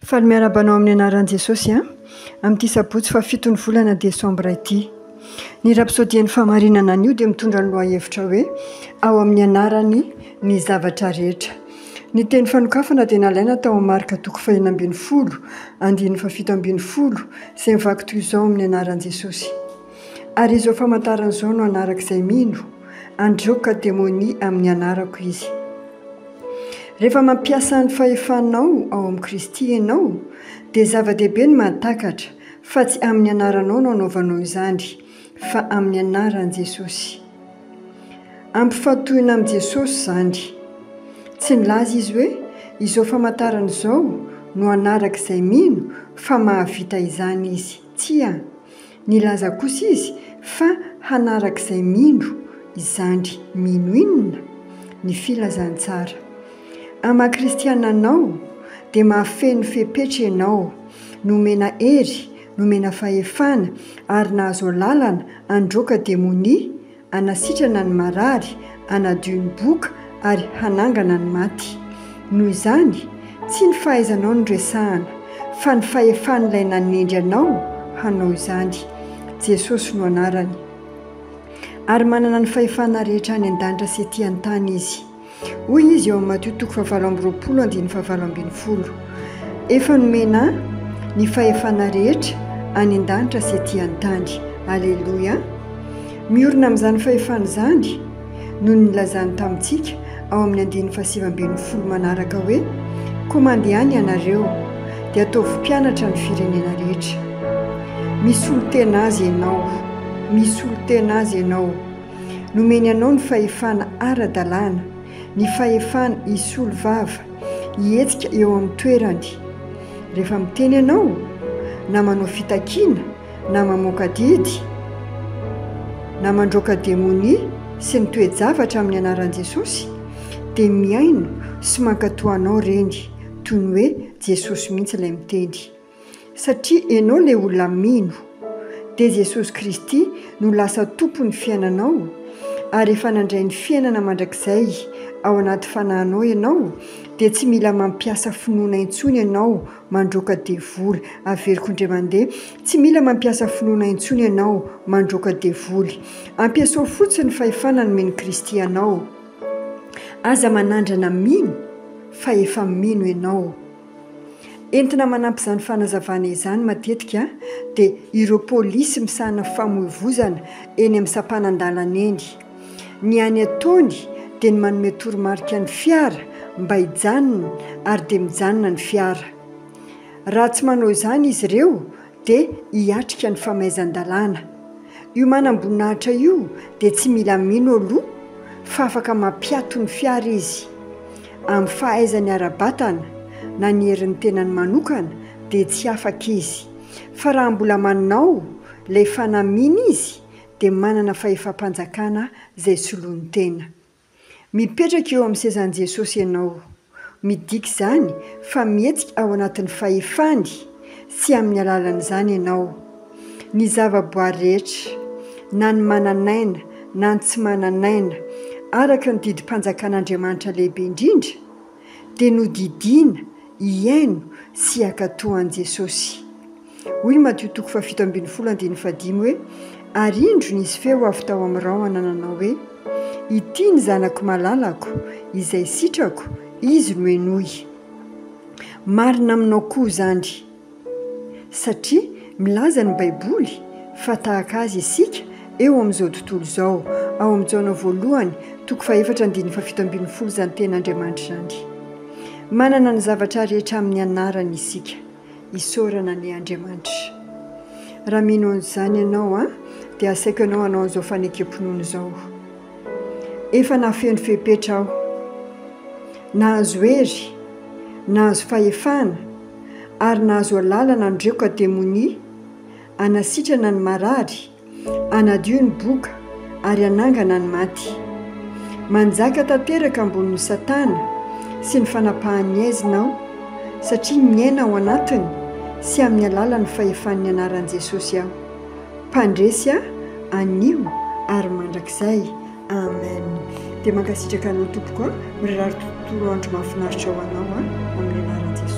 Faly miarahaba anao amin'ny anaran'i Jesosy an! Amin'ity sabotsy fahafiton'ny volana desambra ity. Ny rapsodian'ny fahamarinana anio dia mitondra ny lohahevitra hoe ao amin'ny anarany ny zavatra rehetra. Ny teny fanokafana dia nalaina tao amin'ny marka toko fahina ambin'ny folo, andininy fahafito ambin'ny folo, izay mivaky toy izao amin'ny anaran'i Jesosy. Ary izao famantarana izao no hanaraka izay mino, Handreoka demonia amin'ny anarako izy. Rehefa mampiasa ny fahefanao ao amin'i Kristy ianao, dia zava-dehibe ny mahatakatra fa tsy amin'ny anaranao no anaovanao izany, fa amin'ny anaran'i Jesosy. Ampifantohina amin'i Jesosy izany. Tsy nilaza Izy hoe, Izao famantarana izao no hanaraka izay mino, fa mahavita izany Izy. Tsia. Nilaza kosa izy fa hanaraka izay mino izany mino inona? ny filazantsara. Amin'ny maha kristiana anao dia mahafeno fepetra ianao, nomena hery, nomena fahefana ary nahazo alalana handroaka demonia hanasitrana ny marary, hanadio ny boka, ary hanangana ny maty. Noho izany, tsy ny fahaizanao no resahana, fa ny fahefan'Ilay nanendry anao hanao izany. Jesosy no anarany. Ary manana ny fahefana rehetra any an-danitra sy etỳ an-tany Izy. Hoy Izy eo amin'ny Matio toko fahavalo amby roapolo andininy fahavalo ambin'ny folo, Efa nomena Ahy ny fahefana rehetra any an-danitra sy ety an-tany. Aleloia! Miorina amin'izany fahefana izany no nilazany tamintsika ao amin'ny andininy fahasivy ambin'ny folo manaraka hoe, Koa mandehana ianareo, dia ataovy mpianatra ny firenena rehetra. Misolo tena Azy ianao. Misolo tena Azy ianao. Nomeny anao ny fahefana ara-dalàna, ny fahefana hisolo vava, hihetsika eo amin'ny toerany. Rehefa miteny ianao, na manao fitakiana, na mamoaka didy, na mandroaka demonia sy ny toe-javatra amin'ny anaran'i Jesosy, dia mihaino sy mankatoa anao ireny, toy ny hoe Jesosy mihitsy ilay miteny. satria enao le olona mino dia Jesosy Kristy no lasa Tompon'ny fiainanao ary efa nandray ny fiainana mandrakizay ao anaty fanahinao enao dia tsy mila mampiasa finoana intsony enao mandroaka devoly averiko ndray mandeha tsy mila mampiasa finoana intsony enao mandroaka devoly ampiasao fotsiny fahefana nomen'i Kristy anao aza manandrana mino fa efa mino enao Entina manampy izany fanazavana izany matetika dia ireo polisy misahana famoivozana eny amin'ny sampanan-dalana eny. Ny hany ataony dia ny manome toromarika ny fiara mba hijanona ary dia mijanona ny fiara. Raha tsy manao izany izy ireo dia hiatrika ny famaizan-dalàna. Io manamboninahitra io dia tsy mila mino aloha fa afaka mampiato ny fiara izy. Amin'ny fahaizany ara-batana na ny herin'ny tenany manokana dia tsy afaka izy. Fa raha mbola manao ilay fanamiana izy dia manana fahefam-panjakana izay soloany tena. Mipetraka eo amin'ny sezan'i Jesosy ianao. Midika izany fa mihetsika ao anatin'ny fahefany sy amin'ny alalan'izany ianao. Ny zavaboary rehetra, na ny manan'aina na ny tsy manan'aina, araka ny didim-panjakan'Andriamanitra lehibe indrindra, dia nodidiana hihaino sy hankatò an'i Jesosy. Hoy ny Matio toko fahafito ambin'ny folo andininy fahadimy hoe, Ary indro nisy feo avy tao amin'ny rahona nanao hoe, Ity ny Zanako malalako, izay sitrako, Izy no henoy. Marina aminao koa izany, satria milaza ny Baiboly fa tahaka Azy isika eo amin'izao tontolo izao. Ao amin'ny Jaona voalohany toko fahefatra andininy fahafito ambin'ny folo izany Tenin'Andriamanitra izany. Manana ny zavatra rehetra amin'ny anarany isika. isaorana anie Andriamanitra. Raha mino an'izany ianao an, dia asaiko anao hanao an'izao fanekem-pinoana izao, Efa nafeno fepetra aho, nahazo hery, nahazo fahefana, ary nahazo alalana handreko ka demonia, hanasitrana ny marary, Hanadio ny boka ary hanangana ny maty. Manjaka tanteraka ambonin'i Satana sy ny fanapahan'ny aizina aho, satria miaina ao anatiny sy amin'ny alalan'ny fahefan'ny anaran'i Jesosy aho. Mpandresy aho anio ary mandrakizay. Amen. Dia mankasitraka anao tompoko a. Mirary tontolo andro mahafinaritra ho anao a, amin'ny anaran'i Jesosy.